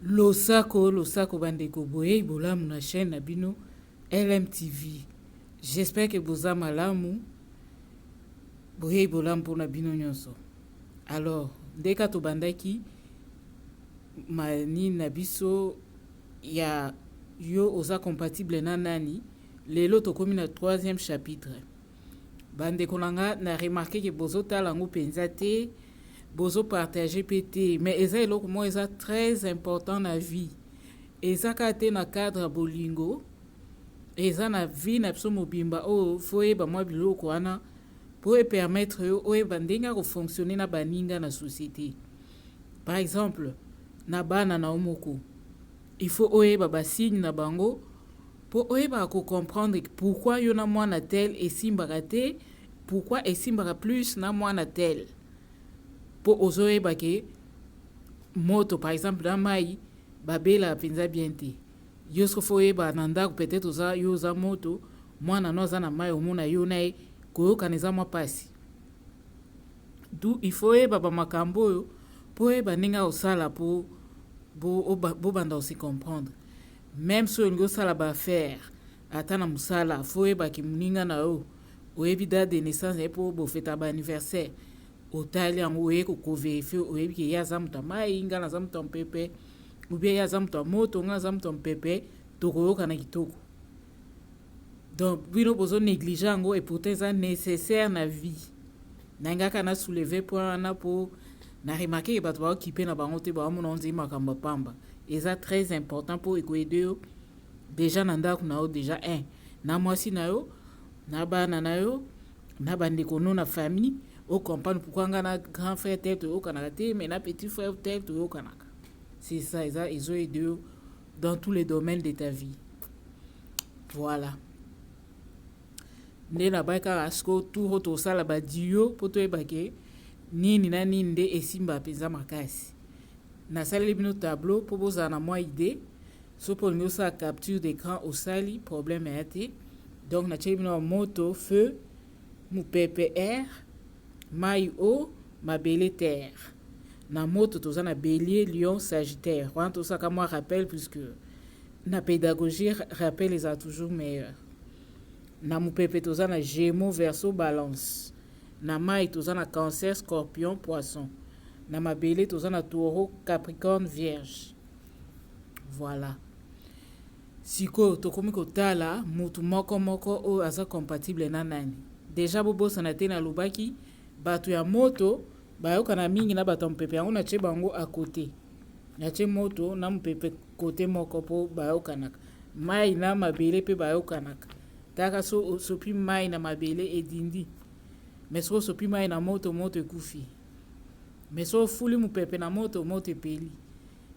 Losako losako bandeko boyei bolamu na chaîne na bino LMTV. J'espère que boza malamu. Boyei bolamu mpona bino nyonso. Alors, ndeka tobandaki manini na biso ya yo oza compatible na nani? Lelo tokomi na troisième chapitre. Ba ndeko na nga na remarquer que bozo tala yango penza te, bozo partager pe te, mais eza eloko moko eza très important na vie. Eza kaka te na cadre ya bolingo, eza na vie na biso mobimba oyo faut oyeba mwa biloko wana po e permettre yo oyeba ndenge ya ko fonctionner na baninga na société. Par exemple, na bana na yo moko, il faut oyeba ba signe na bango Po oyebaka ko comprendre que pourquoi yo na mwana tel esimbaka te, pourquoi esimbaka plus na mwana tel. Po ozo yeba que moto par exemple na mayi ba belaka penza bien te. Yo ce que faut oyeba na ndaku peut etre oza yo oza moto, mwana no aza na mayi omona yo na ye koyokana eza mwa pasi. D'où il faut oyeba ba makambo oyo po oyeba ndenge ya kosala po bo banda ko se comprendre. Meme soki olingi osala ba affaires ata na musala faut oyeba ke muninga na yo oyebi date de naissance na ye po bofeta ba anniversaire otali yango oye ko ko verifie oyebi ke ye aza moto ya mai ngai naza moto ya mpepe ou bien ye aza moto ya moto ngai naza moto ya mpepe tokoyokana kitoko Donc bino bozo negliger yango et pourtant eza necessaire na vie. Na ngaka na soulever point wana po na remarquer bato ba occupé na bango te ba mona onzi makambo pamba. Eza très important po eko aider yo déjà na ndaku na yo déjà un na mwasi na yo na bana na yo na bandeko no na famille o comprendre pourquoi nga na grand frère tel toyokanaka te mais na petit frère tel toyokanaka c'est ça eza ezo aider yo dans tous les domaines de ta vie voilà nde nabai kaka siko tour tosala badio mpo toyeba ke nini na nini nde esimba mpenza makasi nasaleli bino tableau mpo bozala na mwa idée soki olingi osala capture d'écran osali problème ya te donc natyeli bino ya moto feu Mopepe er, mayi o, mabele ter. Na moto toza na Belier, Lion, Sagittaire. Wana tosa ka mwa rappel puisque na pedagogie rappel eza toujours meilleur. Na mopepe toza na Gémeaux, Verseau, Balance. Na mayi toza na Cancer, Scorpion, Poisson. Na mabele toza na Taureau, Capricorne, Vierge. Voilà. Sikoyo tokomi kotala mutu moko moko oyo aza compatible na nani. Dejà bobosana te nalobaki batu ya moto bayokana mingi na batu ya mupepe yango natie bango à cote. Natie moto na mupepe cote moko po bayokanaka. Mayi na mabele pe bayokanaka. Taka so osopi mayi na mabele edindi. Mais soki osopi mayi na moto, moto ekufi. Mais soki ofuli mupepe na moto, moto epeli.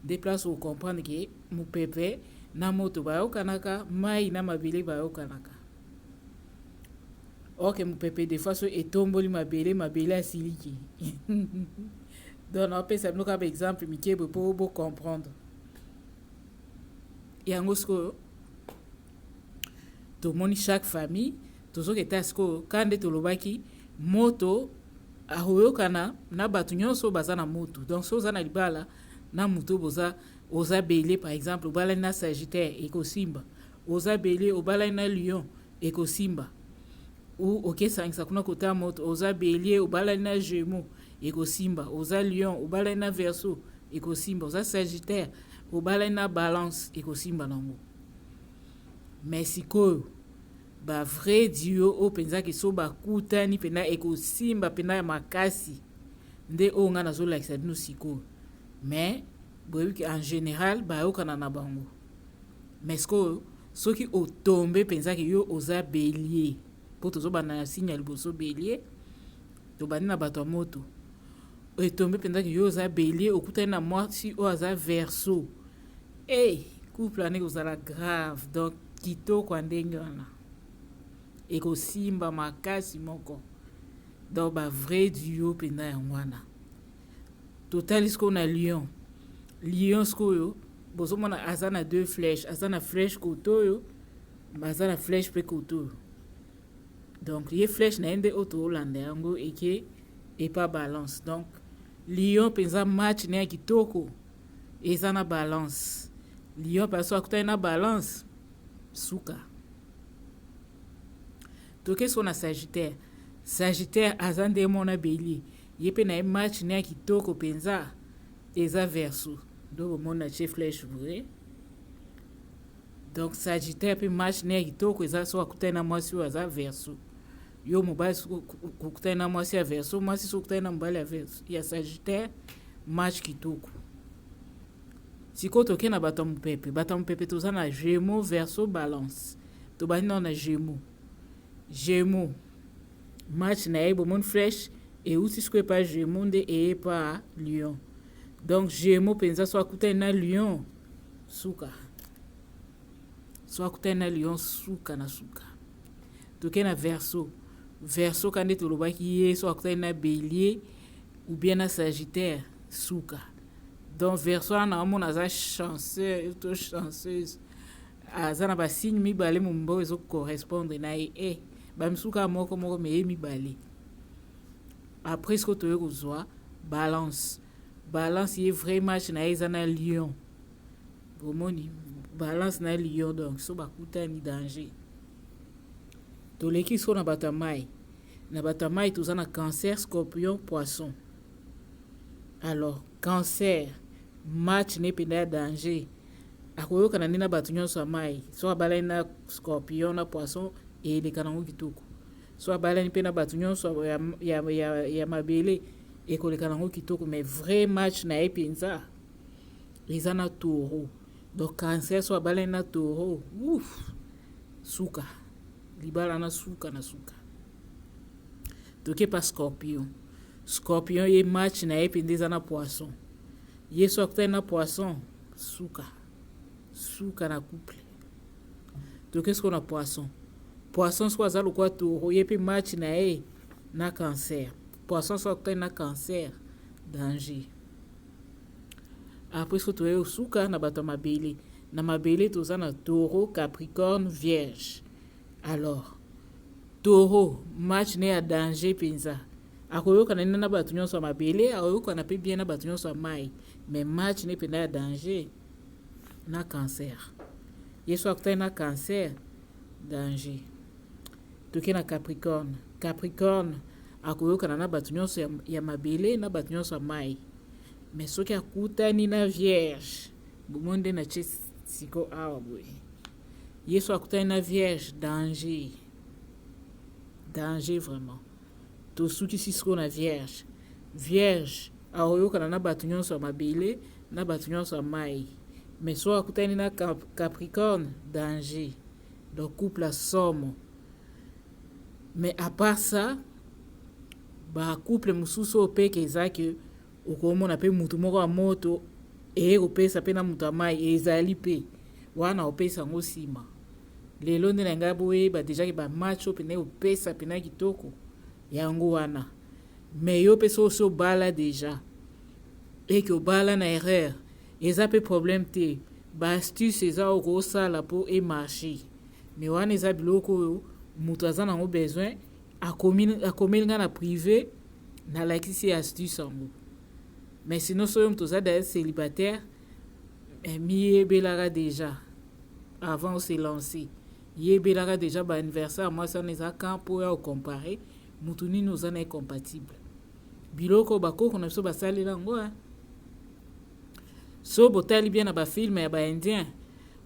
Nde place o comprendre que mupepe na moto bayokanaka, mayi na mabele bayokanaka. Or que mupepe des fois so etomboli mabele, mabele asiliki. Donc na opesa bino kaka ba exemple mike boye po bo comprendre. Yango sikoyo tomoni chaque famille Tozoke ta sikoyo ka nde tolobaki moto akoyokana na bato nyonso baza na moto donc so oza na libala na moto boza oza bele par exemple obalani na sagittaire ekosimba oza bele obalani na lion ekosimba ou okesangisa kuna kota moto oza belie obalani na gemo ekosimba oza lion obalani na verso ekosimba oza sagittaire obalani na balance ekosimba nango mais sikoyo Ba vrai duo oyo penza que so ba kutani pena eko simba pena ya makasi nde oyo nga nazo lakisa bino sikoyo mais boyebi que en general ba yokana na bango mais sikoyo soki o tombe penza que yo oza belier po tozo banda na signe ya liboso belier tobandi na bato ya moto etombe mpenza ke yo oza belie okutani na mwasi oyo aza verso Hey, couple wana ekozala grave donc kitoko ya ndenge wana ekosimba makasi moko donc ba vrai duo mpenza yango wana totali sikoyo na lion lion sikoyo bozomona aza na deux flèche aza na flèche kote oyo baza na flèche mpe kote oyo donc ye flèche na ye nde oyo toolanda yango eke epa balance donc lion mpenza match na ya kitoko eza na balance lion pale so akutani na balance suka toke so na sagittaire sagittaire aza nde mona belie ye mpe na ye match ne ya kitoko mpenza eza verso donc omoni na tie flèche boye donc sagittaire mpe match ne ya kitoko eza so akutani na mwasi oyo aza verso yo mobali okutani na mwasi ya verso mwasi soki okutani na mobali ya verso ya sagittaire match kitoko sikoyo toke na bato ya mopepe bato ya mopepe toza na gemo verso balance tobandi nao na gemo gemo match na ye bomoni flèche euti sikoyo epa gemo nde eye epa lion donc gemo mpenza so akutani na lion suka so akutani na lion suka na suka toke na verso verso ka nde tolobaki ye so akutani na bélier ou bien na sagittaire suka donc verso wana naomona aza chanceux to chanceuse aza na basigne mibale momimba ezo correspondre na ye e eh, bamisuka moko moko meye mibale après siko toye kozwa balance balance ye vrai match na ye eza na lion Bomoni, balance na lion donc so bakutani danger. Toleki so na bato ya mai. Na bato ya mai toza na cancer, scorpion, poisson. Alors, cancer, match ne mpenza ya danger. Akoyokana nde na bato nyonso ya mai. So abalani na scorpion na poisson, eleka nango kitoko. So abalani mpe na bato nyonso ya, ya, ya, ya mabele, ekoleka nango kitoko. Mais vrai match na ye mpenza, eza na toro donc cancer so abalani na toro ouf suka libala na suka na suka toke pa scorpion scorpion ye match na ye mpenza eza na poisson ye so akutani na poisson suka suka na couple toke soko na poisson poisson soko aza lokola toro ye mpe match na ye na cancer poisson so akutani na cancer danger Après soki toye osuka na bato ya mabele, na mabele toza na taureau, capricorne, vierge. Alors, taureau match ne ya danger mpenza akoyokana nde na bato nyonso ya mabele, akoyokana mpe bien na bato nyonso ya mai, mais match ne mpenza ya danger na cancer. Ye soki akutani na cancer, danger. Toke na capricorne, capricorne Akoyokana na bato nyonso ya, ya mabele na bato nyonso ya mai. Me soki akutani na vierge, bomoni nde na tie siko awa boye. Yesu akutani na vierge, danger, danger vraiment. Tosukisi siko na vierge. Vierge akoyokana na bato nyonso ya mabele na bato nyonso ya mai. Me soki akutani na Capricorne, danger. Donc couple ya somo. Mais à part ça ba couple mosusu oyo peke eza ke okomona mpe motu moko ya moto eye kopesa mpe na moto ya mai ezali mpe wana opesa yango nsima lelo nde na ngai boyeba deja ke bamatch oyo mpena opesa mpena kitoko yango wana me yo mpe so osi obala deja eke obala na erreur eza mpe problème te baastuce eza oyo kosala mpo emarche Mais wana eza biloko oyo mutu aza nango besoin akomi akomeli nga na prive na lakisi ye astuce yango mais sinon soyo mutu oza d'ailleurs célibataire eh, miyebelaka déjà avant ose lancer yebelaka déjà ba anniversaire mwasi wana eza quand mpo ya ocompare mutu nini oza na ye compatible biloko bakoko na biso basalela yango eh. so botali bien na bafilme ya baindien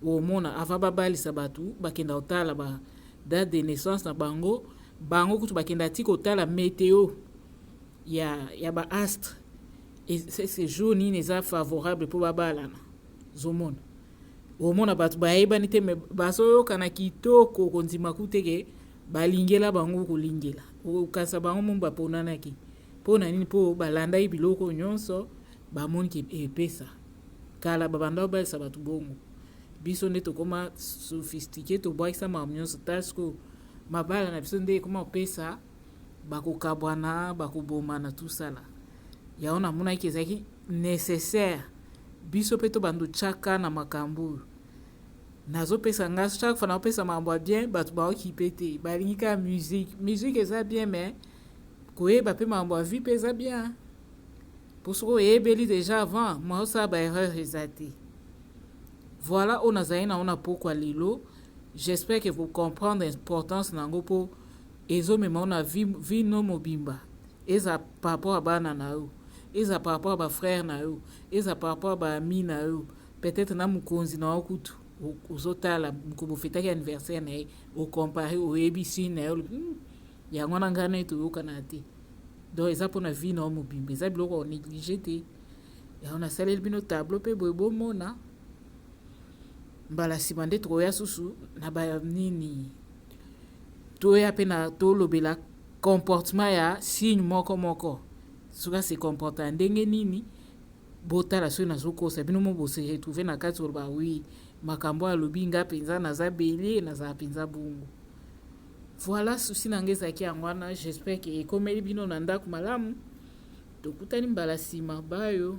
omona avant babalisa batu bakenda kotala ba date de naissance na bango bango kutu bakenda ti kotala meteo ya, ya ba astre ese jour nini eza favorable mpo babalana zomona omona bato bayebani te me bazoyokana kitoko kondima kuteke balingela bango kolingela okanisa bango mo baponanaki mpo na nini mpo balandaki biloko nyonso Ba moni ke epesa. Kala ba banda obalisa batu bongo. Biso nde tokoma sophistiquer tobwakisa makambo nyonso tala sikoyo mabala na biso nde ekoma kopesa bakokabwana bakobomana tusala yango namonaki ezalaki nécessaire biso mpe tobanda otyaka na makambo oyo nazopesa nga chaque fois naopesa makambo ya bien bato baokipe te balingi kaka musique musique eza bien mais koyeba mpe makambo ya vie mpe eza bien po soki oyebeli deja avant moyen osala ba erreur eza te voilà oyo nazali nango na pokwa lelo j'espère que vous comprendre importance na yango mpo ezomema yo na vie no mobimba eza par rapport ya bana na yo eza par rapport ya bafrère na yo eza par rapport ya baami na yo peut-être na mokonzi na yo kutu ozotala mokobo ofetaki anniversaire na ye ocompare oyebisi na ye olobi hmm, yango na ngai na ye toyokana te donc eza mpona vie na yo mobimba eza biloko ya néglige te yango nasaleli bino tableau mpe boye bomona mbala nsima nde tokoya susu na banini toya mpe na tolobela comportement ya signe moko moko soki ase comporte ya ndenge nini botala soki nazokosa bino mo bose retrouve na kati oloba wi makambo alobi nga mpenza naza belie nazala mpenza bongo Voilà souci na nga ezalaki yango wana j'espère que ekomeli bino na ndako malamu tokutani mbala nsima bayo